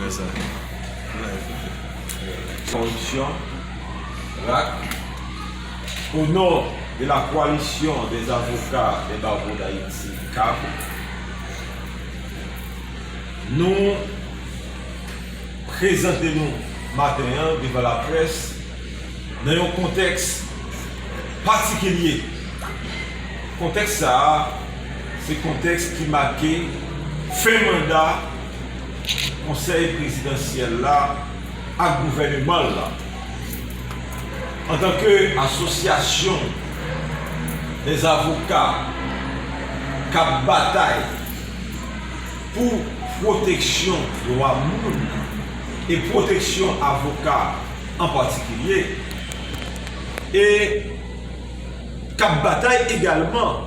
Prezante Nan efektif Koalisyon RAC O non de la Koalisyon des Avocats des Barreaux d'Haïti, kab, nou prezante nou maten an devan laprès nan yon kontèks patikilye. Kontèks sa a se kontèks ki make fen manda. Konsèy Prezidansyèl la ak gouvèneman l lan antanke asosyasyon dè avoka k ap batay pou pwoteksyon dwa moun e pwoteksyon avoka an patikilye e k ap batay egalman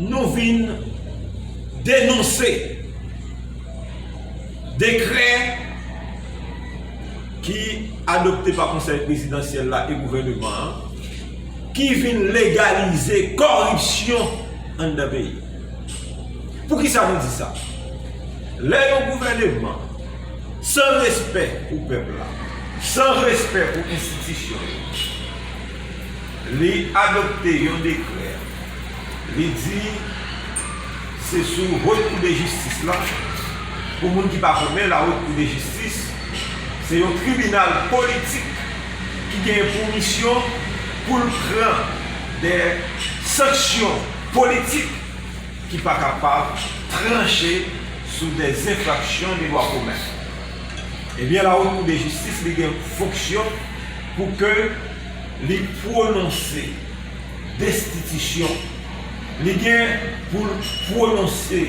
Nou vin denonse dekrè ki adopte pa konsèy prezidansyèl la e gouvèneman an ki vin legalize kòripsyon anndan peyi. Poukisa nou di sa? Lè yon gouvèneman san respè pou pèp la, san respè pou enstitisyon yo, Li adopte yon dekrè, li di se sou Haute Cour de Justice la, pou moun ki pa konnen la Haute Cour de Justice se yon tribinal politik ki gen pou misyon pou l pran de sanksyon politik ki pa kapab tranche sou de zenfraksyon de dwa komen. Ebyen la Haute Cour de Justice li gen fonksyon Pou ke li pwononse destitisyon, li gen pou l pwononse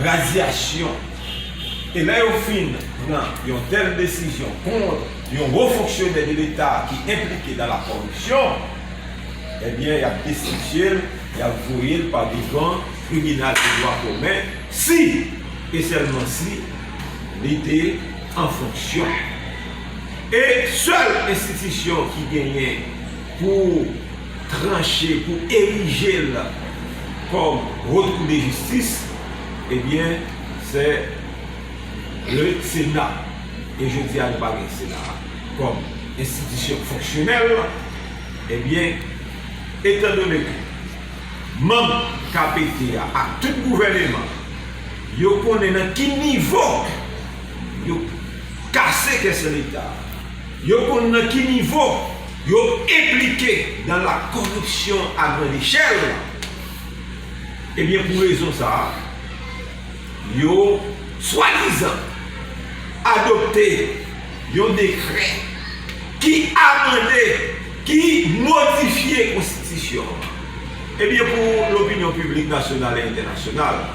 razyasyon. E lè yo fin pran yon tèl desizyon kont yon wo fonksyonè de leta ki enplike dan la kòripsyon, ebyen y ap destitye l, y ap voye l pa devan tribinal de dwa komen, si e sèlman si li te. an fonksyon. E sèl enstitisyon ki genyen pou tranche, pou erije l kòm Haute Cour de Justice, ebyen se le Sena. E jodi a nou pa gen Sena a kòm enstitisyon fonksyonèl, ebyen etandone ke manm KPT a ak tout gouvèneman, Yo konnen nan ki nivo yo kase kè sè leta. Yo konn nan ki nivo yo enplike dan la koripsyon a grand echèl. Ebyen pou rezon sa a, yo swadizan adopte yon dekrè ki amande, ki modifye konstitisyon an. Ebyen pou lopinyon piblik nasyonal e entènasyonal.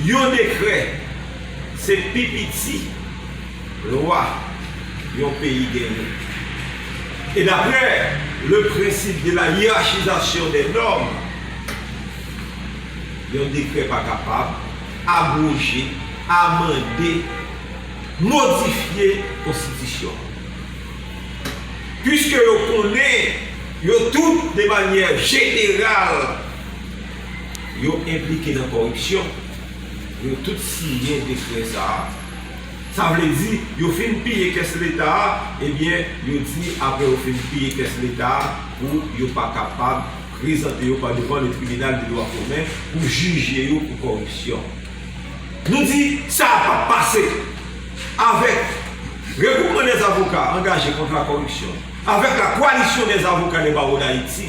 Yon dekrè se pi piti lwa yon peyi genyen. E daprè le prensip de la yirachizasyon dè nòm, yon dekrè pa kapab abwoje, amande, modifye konstitisyon an. Piske yo konnen yo tout de manyè jeneral, yo enplike nan kòripsyon, yo tout siyen dekrè sa a. Sa vle di, yo fin piye kès Leta a, ebyen, yo di apre yo fin piye kès Leta a pou yo pa kapab prezante yo pa devan le tribinal de dwa komen pou jije yo pou kòripsyon. Nou di, sa a pap pase! Avèk Regwoupman dèzavoka angaje kont lakòripsyon, avèk la Koalisyon dèzavoka dè Bawo Dayiti,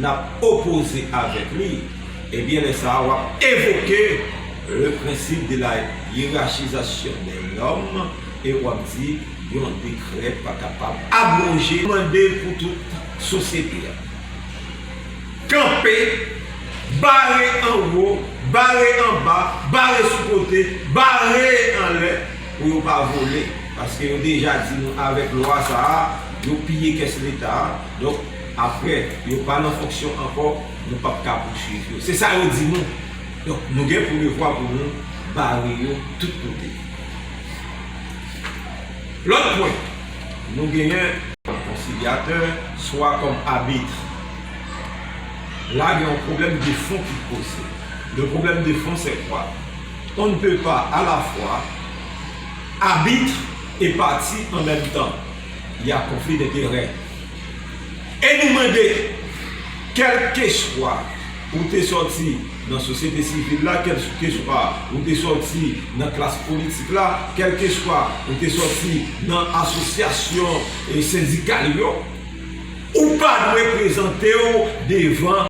nap opoze avèk li, ebyen lè sa a wap evoke le principe de la hiérarchisation des normes e wap di yon dekrè pa kapab abroje. Mwen mande pou tout sosyete a kanpe, bare anwo, bare anba, bare sou kote, bare anlè pou yo pa vole paske yo deja di nou avèk lwa sa a yo piye kès leta a donk Aprè, yo pa nan fonksyon ankò, nou pap ka pouswiv yo. Se sa yo di nou. Donk, nou gen pou devwa pou nou bare yo tout kote. Lòt pwen, nou genyen. Konsilyatè, swa kòm abit. La gen yon pwoblèm de fon ki poze. Le pwoblèm de fon se kwa? On ne peut pas à la fois arbitre et partie en même temps. Il y a conflit d'intérêt. E nou mande, kèlkeswa ou te sòti nan sosyete sivil la, kèlkeswa ou te sòti nan klas politik la, kèlkeswa ou te sòti nan asosyasyon sendikal yo, ou pa dwe prezante w devan.